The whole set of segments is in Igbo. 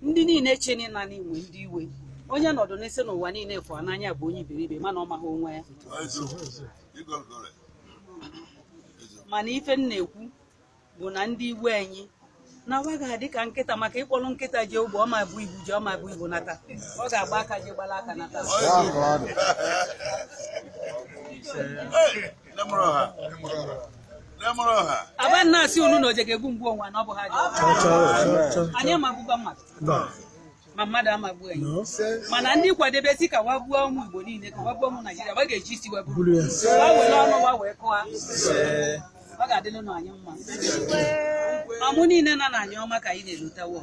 ndị niile cheni na anyị nwe ndị iwe onye nọdụ na-asị na ụwa niile fụ ya n'anya bụ onye iberibe mana ọ maghị onwe ya mana ife m na-ekwu bụ na ndị iwe anyị na wa ga-adị ka nkịta maka ị kpọlọ nkịta je ugbo ọ ma ebu ibu je ọ ma ebu ibu nata ọ ga-agba aka je gbala aka nata aba na-asị unu na oje ga-egbu m gbu onwe ya na ọ bụ ha anyị ama egbukwa mmadụ ma mmadụ ama egbu anyị mana ndị kwadebe sị ka wa gbuo ụmụ Igbo niile ka wa gbuo ụmụ Naijiria wa ga-eji isi wa buru wa were ọnụ wa wee kụwa ọ ga-adịlụ anyị mma ọmụ niile nọ na Anioma ka anyị na-elota wo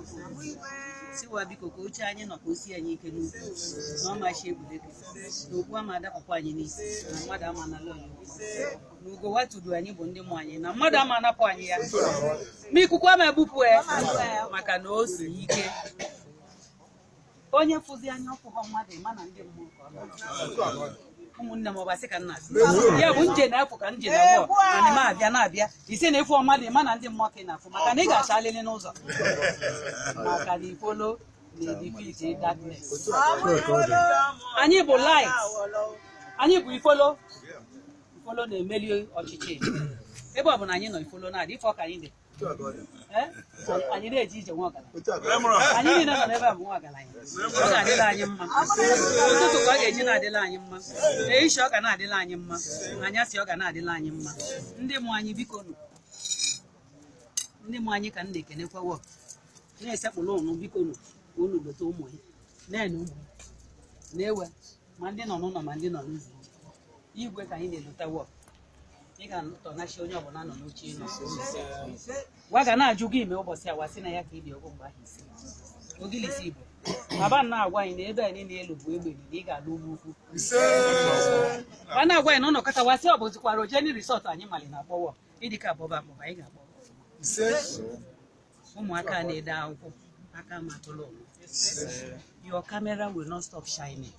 sị wa biko ka oche anyị nọ ka o si anyị ike n'ukwu na ọmachi egwuregwu na okpu ama adapụkwa anyị n'isi na mmadụ ama anala anyị na ugo wa tudu anyị bụ ndị mụ anyị na mmadụ ama anapụ anyị ya ma ikuku ama ebupụ ya maka na o si ike onye fụzi anya ọ fụghọ mmadụ ị ma na ndị mmụọ ka ọ na-achọ. ụmụnne m ọbasị ka nna asị ya bụ nje na-apụ ka nje na abụọ ana m abịa na-abịa ise na ị fụọ mmadụ ị ma na ndị mmụọ ka ị na-afụ maka na ị ga-achalịlị n'ụzọ maka na ifolo anyị bụ light anyị bụ ifolo ifolo na-emeli ọchịchịị ebe ọ bụ na anyị nọ ifolo na-adị ife ọ ka anyị dị anyị na-eje ije nwa ọgaranya anyị niile nọ n'ebe a bụ nwa ọgaranya ọ na-adịla anyị mma ụtụtụ ka ọ ga-eji na-adịla anyị mma ehicha ọ ga na-adịla anyị mma anyasị ọ ga na-adịla anyị mma ndị mụ anyị biko nụ ndị mụ anyị ka m na-ekenekwa wo na-esekpụrụ unu biko nụ ka unu lota ụmụ ya na-ene ụmụ ya na-ewe ma ndị nọ n'ụlọ ma ndị nọ n'ụzọ igwe ka anyị na-elota wo ị ga-atọnachi onye ọbụla nọ n'oche ị nọ gwa ga na-ajụ gị ime ụbọchị awa sị na ya ka ibi ọgwụ mgbe ahụ isi Ogilisi Igbo baba na-agwa anyị na ebe anyị na-elu bụ egbe na ị ga-alụ ugwu ukwu ma na-agwa anyị na ụlọ kọta wa sị ọ bụzikwa Rojenny risọt anyị mali na akpọwọ ịdị ka ọ bụ Ọba maọbụ anyị ga-akpọ ụmụaka a na-ede akwụkwọ aka ma tụlụ ụwa. your camera will not stop shining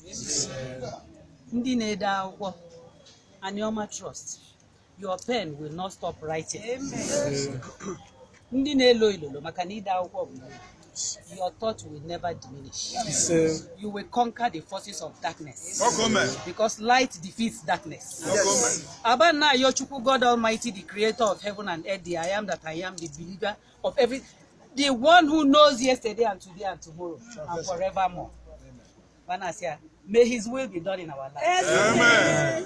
ndị na-ede akwụkwọ Anioma Trust your pen will not stop writing Ndị na-elo ilolo maka na ide akwụkwọ bụ your thought will never diminish. You will conquer the forces of darkness. Because light defeats darkness. Aba na ayọ Chukwu God Almighty, the creator of heaven and earth, the I am that I am, the believer of every the one who knows yesterday and today and tomorrow and forevermore. Bana asị ya, may his will be done in our life. Amen.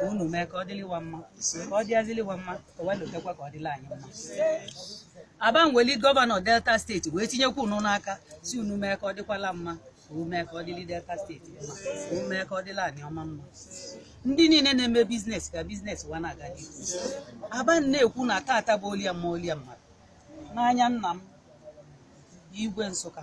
ka unu mee ka ọ dịli wa mma ka ọ dịazili wa mma ka wee lotekwa ka ọ dịla anyị mma aba nweli gọvanọ Delta steeti wee tinyekwa unu n'aka sị unu mee ka ọ dịkwala mma unu mee ka ọ dịli Delta steeti mma unu mee ka ọ dịla Anioma mma ndị niile na-eme biznes ka biznes wa na-aga n'ihu aba na-ekwu na tata bụ olie mma olie mmadụ n'anya nna m igwe Nsụka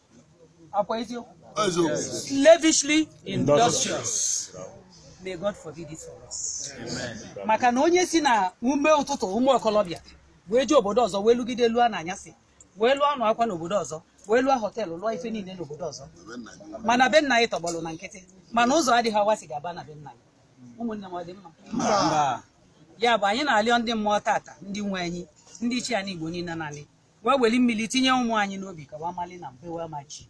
slavishly industrious may God forbid it for us maka na onye si na ume ụtụtụ ụmụ okolobịa wee jee obodo ọzọ wee lụgide lụọ na anyasị wee lụọ anụ akwa n'obodo ọzọ wee lụọ họteelụ lụọ ife niile n'obodo ọzọ mana be nna anyị tọgbọrọ na nkịtị mana ụzọ adịghị a wa si ga-aba na be nna anyị ụmụnne m ọ dị mma ya bụ anyị na-alịọ ndị mmụọ tata ndị nwe anyị ndị ichie anyị Igbo niile naanị wa weli mmili tinye ụmụ anyị n'obi ka wa mali na be wa amachi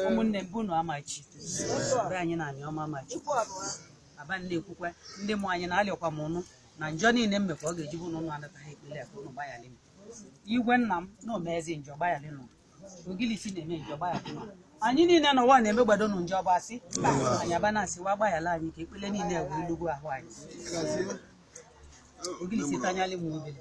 ụmụnne m bụ na amachi be anyị na Anioma amachi aba na-ekwukwa ndị mụ anyị na-alịọkwa m ụnụ na njọ niile m mekwa ọ ga-eji bụ na ụnụ anataghị ekpele ka ụnụ gbayalị m igwe nna m na omezi njọ gbayalị nụ ogilisi na-eme njọ gbayalị nụ anyị niile na ụwa na-eme gbado nụ njọ bụ asị anyị aba na-asị wa gbayala anyị ka ekpele niile wee lugbu ahụ anyị ogilisi tanyalị m obere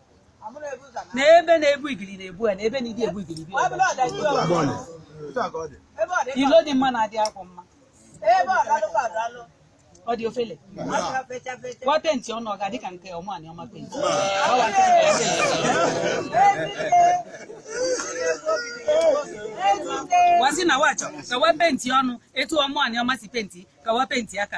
na ebe na-ebu igiri na-ebu ya na ebe ndị ebu igiri bi ilo dị mma na-adị akwụ mma ọ dị ofele wa penti ọnụ ọ ga-adị ka nke Ọmụ Anioma penti wa sị na wa chọ ka wa penti ọnụ etu Ọmụ Anioma si penti ka wa penti aka